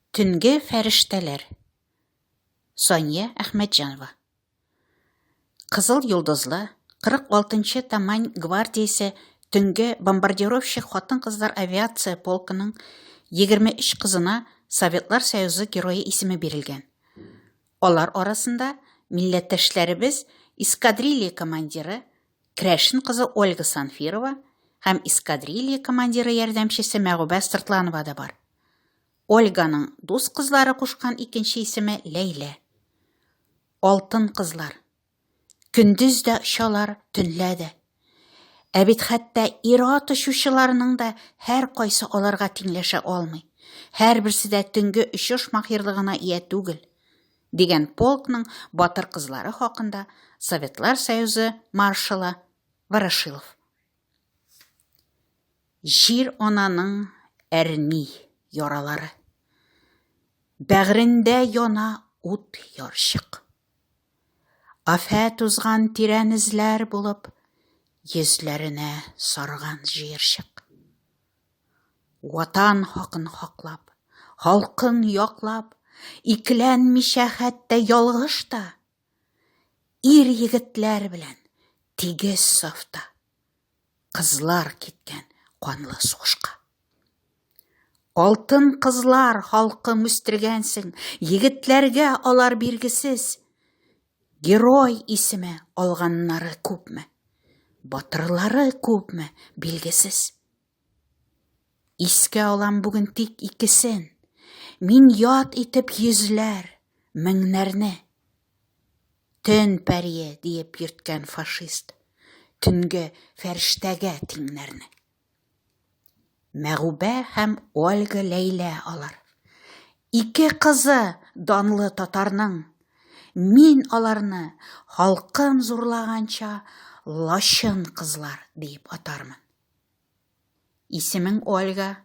Төнге фәрештәләр. Сания Әхмәтҗанова. Кызыл йолдызлы 46-нчы Тамань гвардиясе төнге бомбардировщик хатын-кызлар авиация полкының 23 кызына Советлар Союзы герое исеме бирелгән. Алар арасында милләттәшләребез эскадрилья командиры Крәшен кызы Ольга Санфирова һәм эскадрилья командиры ярдәмчесе Мәгубә Сыртланова да бар. Ольганың дус кызлары кушкан икенче исеме Ләйлә. Алтын кызлар. Көндез дә очалар, төнлә дә. Ә бит хәтта ир-ат очучыларның да һәр кайсы аларга тиңләшә алмый. Һәрберсе дә төнге очыш маһирлыгына ия түгел. дигән полкның батыр кызлары хакында Советлар Союзы маршалы Ворошилов. Җир ананың әрни яралары. Бәгрендә яна ут ярчык. Афәт узган тирән эзләр булып, йөзләренә сарган җыерчык. Ватан хакын хаклап, халкын яклап, икеләнмичә хәтта ялгыш та, ир-егетләр белән тигез сафта, кызлар киткән канлы сугышка. Алтын кызлар халкым үстергәнсең, егетләргә алар биргесез. Герой исеме алганнары күпме, батырлары күпме, билгесез. Искә алам бүген тик икесен, мин ят итеп йөзләр, меңнәрне. Төн пәрие диеп йөрткән фашист, төнге фәрештәгә тиңнәрне. Мәгубә һәм Ольга Ләйлә алар. Ике кызы данлы татарның. Мин аларны халкым зурлаганча лачын кызлар диеп атармын. Исемең Ольга.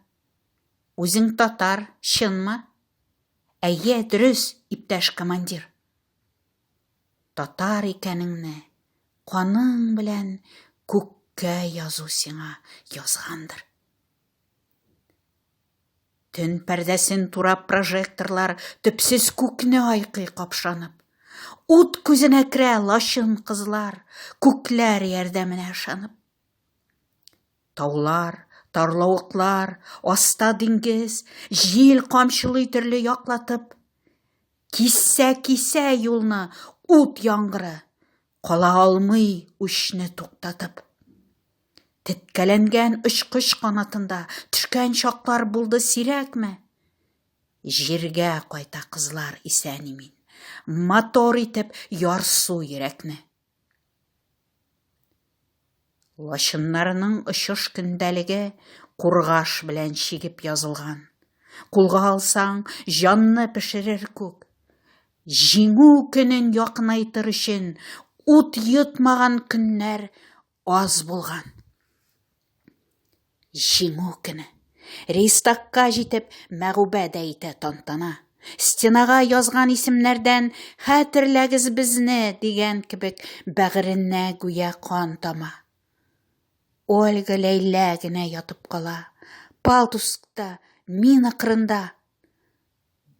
Үзең татар, чынмы? Әйе, дөрес, иптәш командир. Татар икәнеңне, каның белән күккә язу сиңа язгандыр. Төн пәрдәсен турап прожекторлар төпсез күкне айкый капшанып. Ут күзенә керә лачын кызлар, күкләр ярдәменә ышанып. Таулар, тарлавыклар, аста диңгез, җил камчылый төрле яклатып. Кисә, кисә юлны ут яңгыры, кала алмый үчне туктатып. Теткәләнгән очкыч канатында төшкән чаклар булды сирәкме? Җиргә кайта кызлар исән имин, мотор итеп ярсу йөрәкне. Лачыннарның очыш көндәлеге кургаш белән чигеп язылган. Кулга алсаң, җанны пешерер күк. Җиңү көнен якынайтыр өчен ут йотмаган көннәр аз булган. Җиңү көне. Рейстагка җитеп, мәгъүбә дә итә тантана. Стенага язган исемнәрдән Хәтерләгез безне дигән кебек бәгыренә гүя кан тама. Ольга Ләйлә генә ятып кала. Палтускта, мина кырында.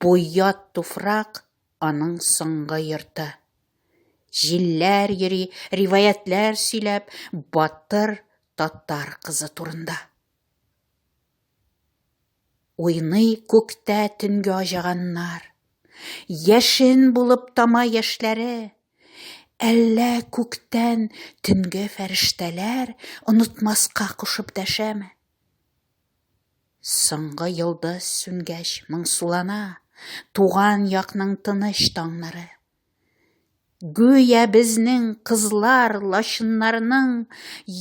Бу ят туфрак, аның соңгы йорты. Җилләр йөри, риваятьләр сөйләп, батыр татар кызы турында. Уйный күктә төнге аҗаганнар. Яшен булып тама яшьләре. Әллә күктән төнге фәрештәләр онытмаска кушып дәшәме? Соңгы йолдыз сүнгәч моңсулана Туган якның тыныч таңнары. Гүя безнең кызлар лачыннарның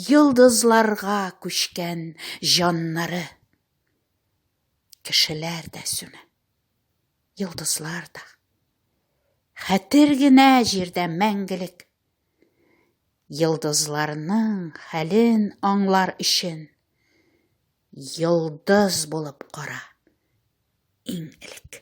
Йолдызларга күчкән җаннары. Кешеләр дә сүнә, йолдызлар да. Хәтер генә җирдә мәңгелек Йолдызларның хәлен аңлар өчен йолдыз булып кара иң элек.